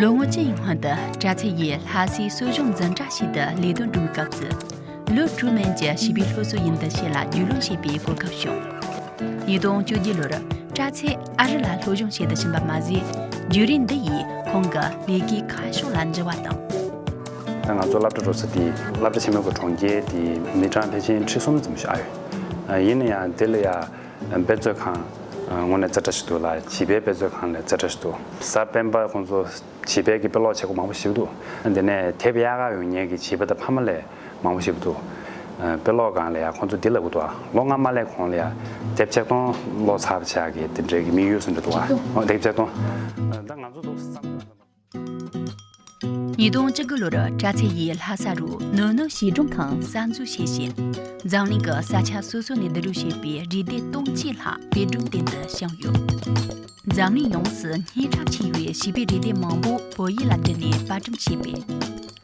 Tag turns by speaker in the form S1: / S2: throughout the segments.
S1: ལོ་ངོ་བཅུ་ཡི་སྔོན་དུ་པྲ་ཚིལ་ཡིས་
S2: ལྷ་སའི་གསོ་སྦྱོང་འཛིན་གྲྭ་ཞིག་ཏུ་ལས་དོན་སྒྲུབ་སྐབས་སུ། ལོ་དྲུག་མན་གྱི་བྱིས་པའི་སློབ་གསོ་ཡིན་འདི་ཞེས་ལ་རྒྱུས་ལོན་བྱེད་པའི་གོ་སྐབས་བྱུང། ཉིས་སྟོང་བཅུ་བརྒྱད་ལོར་པྲ་ཚིལ་ཨ་རི་ལ་སློབ་སྦྱོང་བྱེད་དུ་ཕྱིན་པ་མ་ཟད་བརྒྱུད་རིམ་འདི་ཡིས་ཁོང་གི་ལས་ཀའི་ཁ་ཕྱོགས་
S1: ལ་འགྱུར་བ་དང། ང་ཚོ་སླབ་གྲྭ་འགྲོ་ས་དེ་སླབ་གྲྭ་ཆེན་མོ་གི་གྲོང་ཁྱེར་དེའི་མི་གྲངས་ཕལ་ཆེན་ཁྲི་གསུམ་ཙམ་ཞིག་ཨང་ཡོད། ཡིན་ན་ཡང་དེ་ལ་ཡ། འབད་རྩོལ་ཁང། དངོས་གནས་རྩེ་གྲ་ཞིག་འདུག་ལ་བྱིས་པའི་འབད་རྩོལ་ཁང་ལས་རྩེ་གྲ་ཞིག་འདུག་གཟའ་སྤེན་པ་ཁོང་ཚོ་བྱིས་པའི་གི་དཔེ་ཀློག་བྱེད་སྒོ་མང་པོ་ཞིག་འདུག་དེ་ནས་དེབ་གཡག་ག་ཡོང་ཉལ་གི་བྱིས་པ་དང་ཕ་མ་ལས་མང་པོ་ཞིག་འདུག་དཔེ་ཀློག་སྒང་ལ་ཡང་ཁོང་ཚོ་འདི་ལ་འུ་ཐུག་ཨ་ལོ་ང་མ་ལས་གོང་ལ་ཡང་དེབ་ཆེག་སྟོང་ཀློག་ཚར་བྱས་གི་དེ་འབྲེལ་གི་མིག་ཡོད་སུ་འདྲ་འདུག་ཨ་ལོ་དེབ་ཆེག་སྟོང། ཉིས་སྟོང་བཅུ་དགུ་ལོར་པྲ་ཚིལ་ཡིས་ལྷ་ས་རུ་ནུས་ནུ་གཞིས་གྲོང་ཁང་གསར་འཛུགས་བྱས་ཤིང། འཛམ་གླིང་གི་
S2: ས་ཆ་སོ་སོ་ནས་བསྡུ་རུབ་བྱས་པའི་རི་སྡེ་སྟོང་གཅིག་ལྷག་དེ་སྒྲུང་སྟེང་དུ་བཤམས་ཡོད། འཛམ་གླིང་ཡོངས་སུ་སྙན་གྲགས་ཆེ་བའི་བྱིས་པའི་རི་སྡེ་མང་པོ་བོད་ཡིག་ལ་བསྒྱུར་ནས་པར་སྐྲུན་བྱས་པས།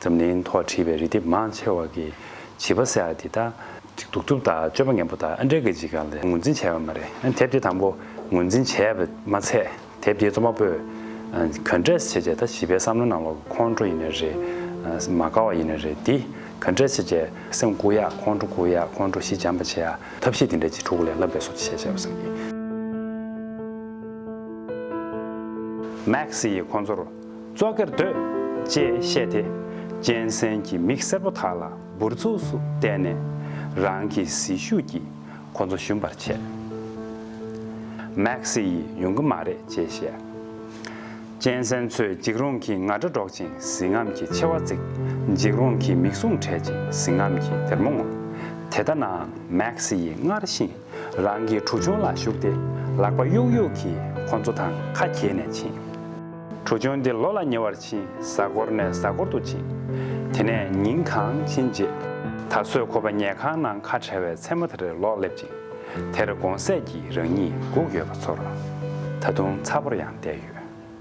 S1: འཛམ་གླིང་ཐོག་བྲིས་པའི་རི་ལྡེབས་མང་ཆེ་བ་གི་བྱིས་པ་སེར་འདི་དག། གདུག་རྩུབ་དང་སྤྱོད་པ་ངན་པོ་དག་ཨན་ཀྲེ་གི་འཇིགས་སྐལ་ལས་ངོས་འཛིན་བྱས་པ་མ་རེད་ཨ་དེབ་དེ་དང་པོ་ངོས་འཛིན་བྱས་པ་མ་ཚད་དེབ་དེའི་རྩོམ་པ་པོས་ག་འདྲས་བྱས་བྱས་ད་བྱིས་པའི་བསམ་བློ་ནང་ལོག་གི་ཁོང་ཁྲོ་ཡིན་ནི་རེད། མ་དགའ་བ་ཡིན་ནི་རེད་དེ་ག་འདྲས་བྱས་བྱས་སེམས་བཀུག་ཡག་ཁོང་ཁྲོ་བཀུག་ཡག་ཁོང་ཁྲོ་ཤི་འཇམ་པ་བྱེད་ཡག་ཐབས་ཤེས་དེ་འདྲས་བྱེད་ཕྲུ་གུ་ལས་བསླབ་པའི་སོ་བྱེད་བྱས་བྱས་བསམ་གྱིས། Max ཡིས་ཁོང་ཚོར། བཙོག་གེར་སྡོད། ཅེས་བཤད་དེ། གཅན་གཟན་གྱི་མིག་སེར་པོ་དག་ལ་འབུར་ཚུགས་སུ་བལྟས་ནས། རང་གི་ཟིལ་ཤུགས་ཀྱིས་ཁོ་ཚོ་ཞུམ་པར་བྱས། མེག་སི་ཡིས་ཡོང་གི་མ་རེད་ཅེས་བཤད། གཅན་གཟན་ཚོས་འཇིགས་རུང་གི་ང་སྒྲ་སྒྲོག་ཅིང་གཟི་རྔམ་གྱི་མཆེ་བ་གཙིགས། འཇིགས་རུང་གི་མིག་ཟུང་བགྲད་ཅིང་གཟི་རྔམ་གྱི་སྡེར་མོ་ངོམ། དེ་ལྟ་ནའང་མེག་སི་ཡིས་སྔར་བཞིན་རང་གི་གྲུ་ཆུང་ལ་ཞུགས་ཏེ་ལག་པ་གཡུག་གཡུག་གིས་ཁོ་ཚོ་དང་ཁ་གྱེས་ནས་ཕྱིན། གྲུ་ཆུང་དེ་ལོ་ལ་ཉེ་བར་ཕྱིན་གཟའ་འཁོར་ནས་གཟའ་འཁོར་དུ་ཕྱིན། དེ་ནས་ཉིན་གང་ཕྱིན་རྗེས། ད་གཟོད་ཁོ་པ་ཉལ་ཁང་ནང་ཁ་བྲལ་བའི་མཚན་མོ་དེ་རེད་ལོག་སླེབས་ཅིང། དེར་དགོང་ཟས་ཀྱིས་རང་ཉིད་སྒུག་ཡོད་པ་ཚོར། ད་དུང་ཚ་བོར་ཡང་བསྡད་ཡོད།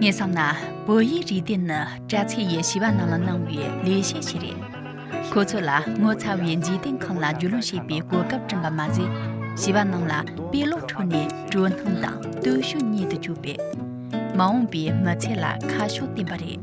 S2: ངས་བསམ་ན་བོད་ཡིག་རིག་དེ་ནི་དྲ་ཚིགས་ཡི་བྱིས་པ་རྣམས་ལ་གནང་བའི་ལས་བྱེད་ཞིག་རེད། ཁོ་ཚོ་ལ་ངོ་ཚ་བའི་འཇིག་རྟེན་ཁམས་ལ་རྒྱུས་ལོན་བྱེད་པའི་གོ་སྐབས་བསྐྲུན་པ་མ་ཟད། བྱིས་པ་རྣམས་ལ་དཔེ་ཀློག་ཁྲོད་ནས་དྲོད་སྣང་དང་བརྟུལ་ཞུགས་རྙེད་དུ་བཅུག་པས། མ་འོངས་པའི་མི་ཚེ་ལ་ཁ་ཕྱོགས་བསྟན་པ་རེད།